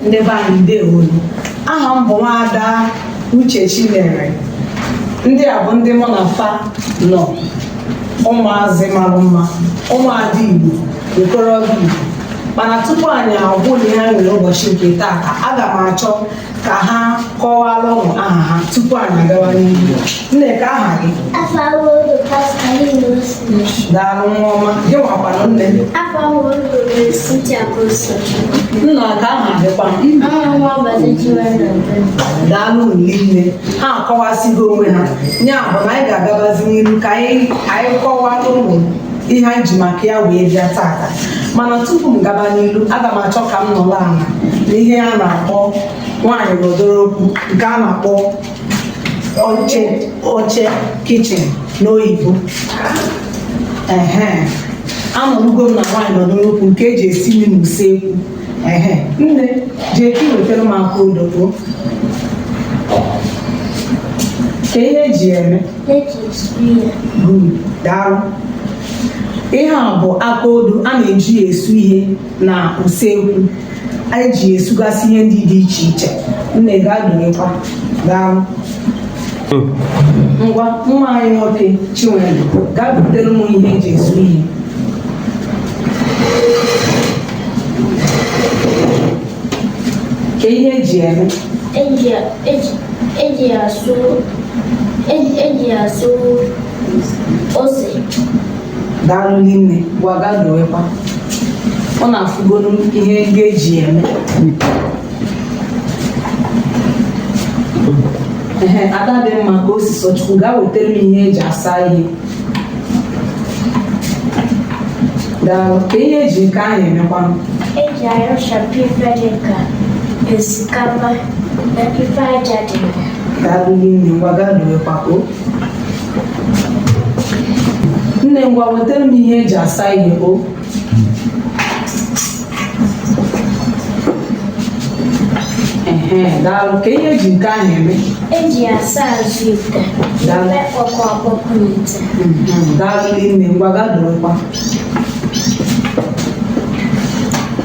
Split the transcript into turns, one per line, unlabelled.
ndị be anyị ndewo aha m bụ nwaada uche chinyere ndị a bụ ndị mụ na fa nọ ụmụazị mara mma ụmụada igbo okorobịa igbo mana tupu anyị agwa ụnụ ihe e nwere ụbọchị nke taata aga m achọ ka ha kọwara ụnụ aha ha tupu anyị agawa n'ihu nne kee aha gị daalụ nwa ọma gị nwakwanụ nne afọ ọhụrụ gụrụ siti akoso nna kee aha gị kwanụ ọnwa nwa ọbọdụ jiwe na mbe daalụ rinne ha akọwasịgo onwe ha ya bụ na anyị ga-agabazi n'ihu ka anyị ka anyị kọwara ụnụ ihe anyị ji maka ya wee bịa taata mana tupu m gaba n'iru aga m achọ ka m nọrọ ala na ihe a na-akpọ nwaanyị nọdụrụ okwu nke a na-akpọ oche oche kitchen n'oyibo ehe anọrugo m na nwaanyị nọdụrụ okwu nke eji esi nri n'usekwu ehe nne jee ka iwetara m aka odo kee ihe eji eme daalụ ihe a bụ aka odo a na-eji esu ihe na usekwu anyị ji esugasị ihe ndị dị iche iche nne gaa dowekwa daalụ ngwa nwa anyị nwoke chinwere gaa butere m ihe eji esu ihe kee ihe eji eme eji asụ
eji asụ ose
daalụ rinne ngwa gaa dowekwa ụnụ afụgonu ihe ndị eji ya eme ehe ada dị mma kaosisọchukwu gaa wetara m ihe eji asa ihe daalụ kee ihe eji nke ahụ emekwanụ
eji ayọchapụ ife dị ka osikapa na ife aja dị na ya daalụ rinne
ngwa gaa dowekwa o nne ngwa wetara m ihe eji asa ihe o Ehe, daalụ kee ihe eji nke ahụ eme eji ya
asa azụ ite Daalụ.
ime
ọkụ
ọkpọkụ n'ite Mhm, daalụ
nne
ngwa gaa
dorokwa